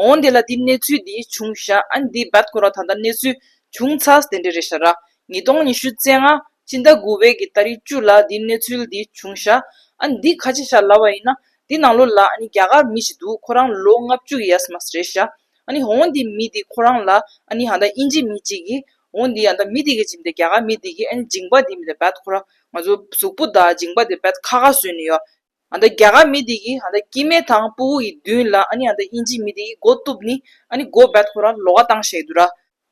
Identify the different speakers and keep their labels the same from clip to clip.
Speaker 1: འོང་དེ་ལ་དེའི་གནས་ཚུལ་འདི་བྱུང་བཞག་ཨ་ནི་དེའི་བར་སྐོར་བ་ད་ལྟ་གནས་ཚུལ་བྱུང་ཚར་དེ་འདྲས་རེད་བཞག་ར་ཉིས་སྟོང་ཉི་ཤུ་རྩེ་ལྔ་སྤྱི་ཟླ་དགུ་བའི་གི་ད་རིག་བཅུ་ལ་དེའི་གནས་ཚུལ་འདི་བྱུང་བཞག་ཨ་ནི་འདི་ཁ་ཆེ་བཞག་ལབ་བ་ཡིན་ན་དེ་ནང་ལོ་ལ་ཨ་ནི་རྒྱ་གར་མི་ཞིག་འདུག་ཁོ་རང་ལོ་ལྔ་བཅུ་གི་ཡས་མ་རེད་བཞག་ཨ་ནི་འོང་དེའི་མི་དེ་ཁོ་རང་ལ་ཨ་ནི་ཧ་ད་དབྱིན་ཇི་མི་གཅིག་གིས་འོང་དེའི་ཨ་ད་མི་དེ་གི་ཇི་མི་དེ་རྒྱ་གར་མི་དེ་གིས་ཨ་ནི་འཇིང་པ་དེ་མི་དེ་བད་ཁོ་རང་ང་ཚོ་གཟུགས་པོ་དང་འཇིང་པ་དེ་བད་ཁ་ཁ་བཟོས་ནས་ཡོད། ཨ་མདའ་རྒྱ་གར་མི་དེ་གིས་ཨ་མདའ་ཀི་མེ་དང་པུའུ་ཡི་མདུན་ལ་ཨ་ནི་ཨ་མདའ་དབྱིན་ཇིའི་མི་དེ་གིས་སྒོ་གཏུབས་ནི་ཨ་ནི་སྒོ་བད་ཐོ་ར་ལོ་ག་བཏང་ཞེས་དུ་ར།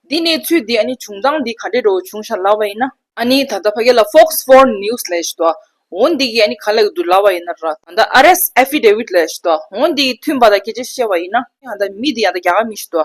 Speaker 1: འདི་གནས་ཚུལ་འདི་ཨ་ནི་བྱུང་སྟངས་འདི་ག་འདྲའི་འགྲོ་བྱུང་ཤ་ལ་བ་ཡིན་ན། ཨ་ནི་ད་ལྟ་ཕ་གི་ལ Fox Four News ལ་ཞེས་དུ་འོ་འདི་གིས་ཨ་ནི་ག་ལེགས་དུ་ལ་བ་ཡིན་ན་ར། ཨ་མདའ Arrest Affidavit ལ་ཞེས་དུ་འོ་འདི་གིས་མཐུན་པ་དང་ཁྱེད་ཅག་ཤེས་བ་ཡིན་ན་ཨ་མདའ་མི་དེ་ཨ་མདའ་རྒྱ་གར་མི་ཞེས་དུ་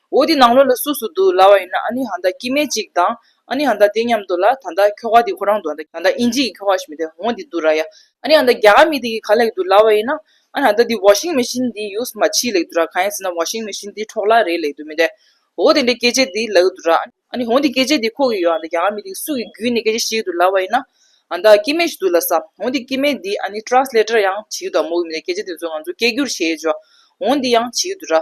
Speaker 1: འོ་དེ་ནང་ལོགས་ལ་སུ་སུ་འདུག་ལ་བ་ཡིན་ན་ཨ་ནི་ཧ་མདའ་ཀི་མེ་ཅིག་དང་ཨ་ནི་ཧ་མདའ་དེ་མཉམ་འདུག་ལ་ད་མདའ་ཁྱོ་ག་དེ་ཁོ་རང་འདུག་ཨ་མདའ་ཨིན་ཇི་ཡི་ཁྱོ་ག་ཞིག་མི་དེ་འོང་དེ་འདུག་ར་ཡ། ཨ་ནི་ཨ་མདའ་རྒྱ་གར་མི་དེ་གི་ག་ལེགས་འདུག་ལ་བ་ཡིན་ན་ཨ་ནི་ཧ་མདའ་དེ washing machine དེ་ཡུགས་མ་ཕྱིས་ལེགས་འདུག་ར་གང་ཡིན་ཟེར་ན washing machine དེ་འཕྲོག་ལ་རེད་ལེགས་འདུག་མི་དེ་འོ་དེ་འདྲའི་སྐད་ཆ་དེ་ལེགས་འདུག་ར་ཨ་ནི་འོང་དེ་སྐད་ཆ་དེ་ཁོ་གི་ཡོད་ཨ་མདའ་རྒྱ་གར་མི་དེ་གི་སུ་གི་རྒྱུད་ནས་སྐད་ཆ་ཤེས་གི་འདུག་ལ་བ་ཡིན་ན་ཨ་མདའ་ཀི་མེ་ཞིག་འདུག་ལ་བསམ་འོང་དེ་ཀི་མེ་དེ་ཨ་ནི translator ཡང་བྱེད་གི་འདུག་ཨ་མོ་གི་མི་དེ་སྐད་ཆ་དེ་ཚོ་ང་ཚོ་སྐད་སྒྱུར་བྱེད་ཆོག་འོང་དེ་ཡང་བྱེད་གི་འདུག་ར་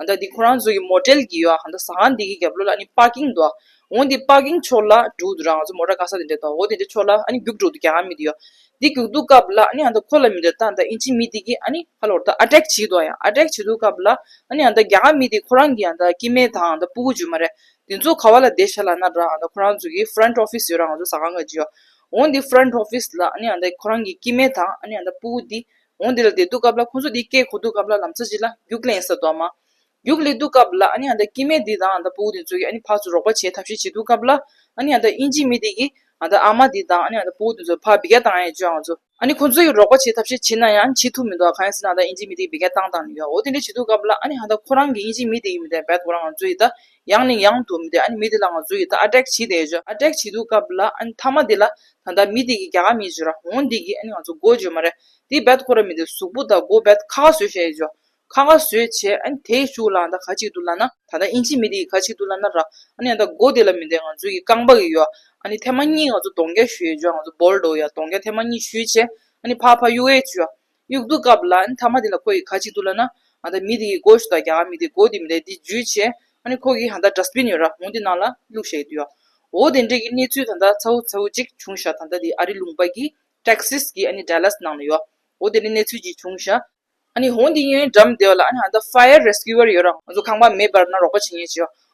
Speaker 1: ཨ་མདའ་འདི་ཁོ་རང་ཚོ་གི་མོ་ཏྲལ་གི་ཡོད་ཨ་མདའ་ཟ་ཁང་འདི་གི་རྒྱབ་ལོ་ལ་ཨ་ནི་པཱ་ཀིང་འདུག་ཨ། འོ་འདི་པཱ་ཀིང་ཕྱོགས་ལ་འགྲོ་འདུག་ར་ང་ཚོ་མོ་ཏྲ་ཀ་ས་དེ་འདྲས་འདུག་ཨ་འོ་དེ་འདྲས་ཕྱོགས་ལ་ཨ་ནི་རྒྱུགས་འགྲོ་འདུག་རྒྱ་གར་མི་འདི་ཡོད་ཨ། འདི་རྒྱུགས་འདུག་སྐབས་ལ་ཨ་ནི་ཨ་མདའ་ཁོ་ལ་མི་འདྲ་ད་ཨ་མདའ་ཨིན་ཇི་མི་འདི་གི་ཨ་ནི་ཧ་ལོར་ད་ཨ་ཏྲེཀ་བྱེད་འདུག་ཨ་ཡང་ཨ་ཏྲེཀ་བྱེད་འདུག་སྐབས་ལ་ཨ་ནི་ཨ་མདའ་རྒྱ་གར་མི་འདི་ཁོ་རང་གི་ཨ་མདའ་སྐྱིད་མེད་དང་ཨ་མདའ་སྤུ་གུ་བརྗོད་མ་རེད། འདི་ཚོ་ག་བ་ལ་བསྡད་ཤ་ལ་ན་ར་ཨ་མདའ་ཁོ་རང་ཚོ་གི Front Office ཡོད་ར་ང་ཚོ་ཟ་ཁང་ག་འདི་ཡོད་ཨ། འོ་འདི Front Office ལ་ཨ་ནི་ཨ་མདའ་ཁོ་རང་གི་སྐྱིད་མེད་དང་ཨ་ནི་ཨ་མདའ་སྤུ་གུ་འདི་འོང་འདི་ལ་དེ་འདུག་སྐབས་ལ་ཁོ་ཚོ་འདི་སྐད་གོ་འདུག་སྐབས་ལ་ལམ་ཚ་གཅིག་ལ་རྒྱུགས་ལེན་ས་དོ་མ་རྒྱུགས་ལེ་འདུག་སྐབས་ལ་ཨ་ནི་ཨ་མདའ་སྐྱིད་མས་འདི་དང་ཨ་མདའ་པུའུ་འདི་ཚོ་གི་ཨ་ནི་ཕག་ཚོ་རོགས་པ་བྱེད་ཐབས་ཤིག་བྱེད་འདུག་སྐབས་ལ་ཨ་ནི་ཨ་མདའ་དབྱིན་ཇི་མི་འདི་གི་ཨ་མདའ་ཨ་མ་འདི་དང་ཨ་ནི་ཨ་མདའ་པུའུ་འདི་ཚོ་ཕག་བི་ག་བཏང་ཡས་བཅོས་ཨང་ཚོ། ཨ་ནི་ཁོ་ཚོ་གི་རོགས་པ་བྱེད་ཐབས་ཤིག་བྱེད་ན་ཡང་བྱེད་ཐུབ་མི་འདུག་ག་གང་ཡིན་ཟེར་ན་ཨ་མདའ་དབྱིན་ཇི་མི་འདི་གི་བི་ག་བཏང་བཏང་ནས་ཡོད་འོ་དེ་འདྲ་བྱེད་འདུག་སྐབས་ལ་ཨ་ནི་ཨ་མདའ་ཁོ་རང་གི་དབྱིན་ཇི་མི་འདི་ཡིན་མི་འདའི་འབད་དགོ་ར་ང་ཚོ་ཡི་ད་ཡང་ནས་ཡང་དུ་མི་དེ་ཨ་ནི་མི་དེ་ལ་ང་ཚོ་ཡིད་ད་ཨ་ཀྲེག་བྱེད་དེ་ཨེ་ཞོ་ཨ་ཀྲེག་བྱེད་འདུག་སྐབས་ལ་ཨ་ནི་མཐའ་མ་དེ་ལ་ད་ལྟ་མི་དེ་གིས་རྒྱ་གར་མི་བྱོས་ར་འོང་འདི་གིས་ཨ་ནི་ང་ཚོ་མགོ་བྱོས་མ་རེད་དེ་རྦད་ཁོ་ར་མི་དེ་གཟུགས་པོ་ད་མགོ་རྦད་ཁ་ཁ་བཟོས་བྱས་ཨེ་ཞོ་ཁ་ཁ་བཟོས་བྱས་ཨ་ནི་དེ་ཤུགས་ལའང་ད་ཁ་ཅིག་ཏུ་ལ་ན་ད་ལྟ་ཨིན་ཇིས་མི་དེ་གིས་ཁ་ཅིག་ཏུ་ལ་ན་ར་ཨ་ནི་ཡང་ད་མགོ་དེ་ལ་མི་དེ་ང་ཚོ་གིས་རྐང་པ་གིས་ཡོ་ཨ་ནི་ཐེ་མ་གཉིས་ང་ཚོ་གདོང་བརྒྱ་བྱོས་ཨེ་ཞོ་ང་ཚོ་སྦོལ་འགྲོ་ཡ་གདོང་བརྒྱ་ཐེ་མ་གཉིས་བྱོས་བྱས་ཨ་ནི་ཕ་ཕ་གཡུ་ཨེ་བྱོས་དབྱུག་དུག་བཀབ་ལ་ཨ་ནི་ཐ་མ་དེ་ལ་ཁོ་ཡིས་ཁ་ཅིག་བཏུ་ལ་ན། ཨ་ད་མི་དེ་ཡིས་སྒོ་ཞིག་ད་གྱ་མི་དེས་སྒོ་དེ་མི་ལས་དེ་འཇུས་བྱས། ཨ་ནི་ཁོ་གིས་ད་ད་འདྲ་སྤིན་ཡོད་ར་མོ་འདི་ནང་ལ་བླུག་ཞེས་བསྡུས་ཨ། འོ་དེ་འདྲས་ཀྱི་གནས་ཚུལ་ད་ད་ཚ་བོ་ཚ་བོ་ཅིག་བྱུང་ཞག་ད་ད་དེ་ཨ་རི་ལུང་པ་གི། Texas། གི་ཨ་ནི Dallas ནང་ལ་ཡོད་ཨ། འོ་དེ་འདྲས་གནས་ཚུལ་ཅིག་བྱུང་ཞག། ཨ་ནི་ཧོན་དེ་ཡོན་འགྲམ་བདེ་བ་ལ་ཨ་ནི་ད་ད Fire Rescuer ཡོད་ར་ང་ཚོ་ཁང་པ་མེད་པར་ན་རོགས་པ་བྱེད་ངེས་བྱས་ཨ།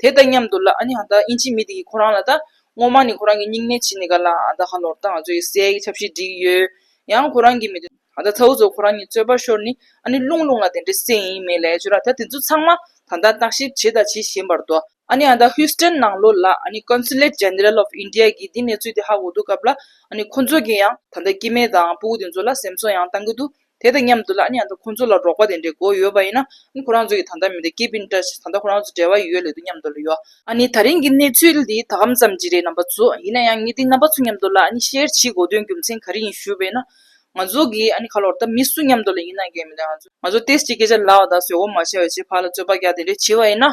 Speaker 1: དེ་དང་མཉམ་དུ་ལ་ཨ་ནི་ཧ་ད་ཨིན་ཇིའི་མི་དེ་གིས་ཁོ་རང་ལ་ད་ངོ་མ་ནི་ཁོ་རང་གི་སྙིང་ནད་ཇི་ནི་ག་ལ་ཨ་ད་ཧ་ལོར་ད་ང་ཚོ་ཡི་སའི་གི་ཆབ་སྲིད་འགྲིག་གི་ཡོད། ཡང་ཁོ་རང་གི་མི་དེ་ཨ་ད་ཚ་བོ་ཚོ་ཁོ་རང་གཉིས་རྩོད་པ་ཤོར་ནི་ཨ་ནི་རླུང་རླུང་ལ་དེ་འདྲའི་སེམས་ཡིན་མེད་ལས་བྱོས་ར་ད་དེ་ཚོ་ཚང་མ་ད་ལྟ་བརྟག་ཞིབ་བྱས་ད་ཇི་བཞིན་པར་དོ། ཨ་ནི་ཨ་ད་ཧུས་ཏོན་ནང་ལོ་ལ་ཨ་ནི Consulate General of India གིས་དེ་གནས་ཚུལ་དེ་ཧ་གོ་འདུག་སྐབས་ལ་ཨ་ནི་ཁོ་ཚོ་གིས་ཡང་ད་ད་སྐྱེས་དམན་དང་སྤུ་གུ་དེ་ཚོ་ལ་སེམས་གསོ་ཡང་གཏང་གི་འདུག་དེ་དང་མཉམ་དུ་ལ་ཉག་དང་ཁོང་ཚོ་ལ་རོགས་པ་དེ་འདྲའི་སྒོ་ཡོད་པ་ཡིན་ན་ཨང་ཁོ་རང་ཚོ་གི་ད་ལྟ་མི་འདི་ཀེ་པིན་ཏྲ་ཞིག་ད་ལྟ་ཁོ་རང་ཚོ་འབྲེལ་བ་ཡོད་ལེ་དུ་མཉམ་དུ་ལ་ཡོད། ཨ་ནི་ད་རིང་གི་གནས་ཚུལ་འདི་ད་གམ་ཙམ་གྱི་རེད་རྣམ་པ་ཚོ་ཡིན་ན་ཡང་ངེད་འདི་རྣམ་པ་ཚོ་མཉམ་དུ་ལ་ནི་ཤེར་ཕྱིའི་གོ་དོན་རྒྱུ་མཚན་ག་རེ་ཡིན་ཞུས་པས་ན། ང་ཚོ་གི་ཨ་ནི་ཁ་ལོར་ད་མི་སུ་མཉམ་དུ་ལ་ཡིན་ན་འགན་མི་འདའ་ང་ཚོ་ང་ཚོ་ཏེས་ཀྱི་སྐད་ཆ་ལ་བ་ད་བཟོད་འོ་མ་བྱས་བྱས་ཕར་ལ་རྩོད་པ་རྒྱག་དེ་འདྲའི་བྱས་བ་ཡིན་ན།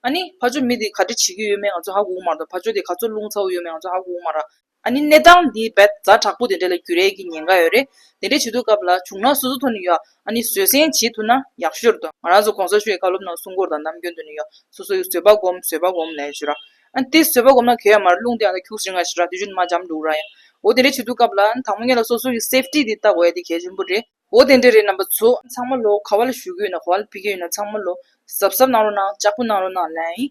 Speaker 1: ཨ་ནི་ཕ་ཇོ་མི་འདི་ག་འདྲ་བྱེད་ཀྱི་ཡོད་མེད་ང་ཚོ་ཧ་གོ་མ་ར་ད་ཕ་ཇོ་དེ་ག་ཚོད་རླུང་ཚ་བོ་ཡོད་མེད་ང་ཚོ་ཧ་གོ་མ་ར། ཨ་ནི་གནས་སྟངས་འདི་རྦད་བཟའ་དྲག་པོ་དེ་འདྲ་ལ་རྒྱུ་རེག་གི་ཉེན་ཁ་ཡོད་རེད། དེ་འདྲ་བྱེད་དུས་སྐབས་ལ་བྱུང་ན་སོ་སོ་ཐོ་ནི་ཡོད་ཨ་ནི་བཟོད་བསྲན་བྱེད་ཐུབ་ན་ཡག་ཤོར་དུ་ང་རང་ཚོ་གོང་ས་ཤོད་ཡི་ཁ་སློབ་ནང་སྲུང་འཁོར་དང་ནམ་རྒྱུན་དུ་ནི་ཡོད་སོ་སོ་ཡི་བཟོད་པ་སྒོམ་བཟོད་པ་སྒོམ་ལས་བྱོས་ར། ཨ་ནི་དེ་བཟོད་པ་སྒོམ་ན་གས་ཡ་མ་ར་རླུང་དེ་ཡང་ད་ཁྱུགས་ཟིང་ང་ཞིག་ར་དེ་བཞུན་དུ་མ་འཇམ་འདུག་ར་ཡ། འོ་དེ་འདྲ་བྱེད་དུས་སྐབས་ལ་ད་མོ་ངེད་ལ་སོ་སོ་ཡི safety དེ་བལྟ་དགོས་ཡ་དེ་གལ་ཆེན་པོ་རེད། འོ་དེ་འདྲ་རེད་རྣམ་པ་ཚོ་ཚང་མ་ལོ་ག་བ་ལ་བཞུགས་ཀྱི་ཡོད་ན་ག་བ་ལ་ཕེབས་ཀྱི་ཡོད་ན་ཚང་མ་ལོ་གཟབ་གཟབ་གནང་རོགས་གནང་ལྕགས་པོ་གནང་རོགས་གནང་ལན།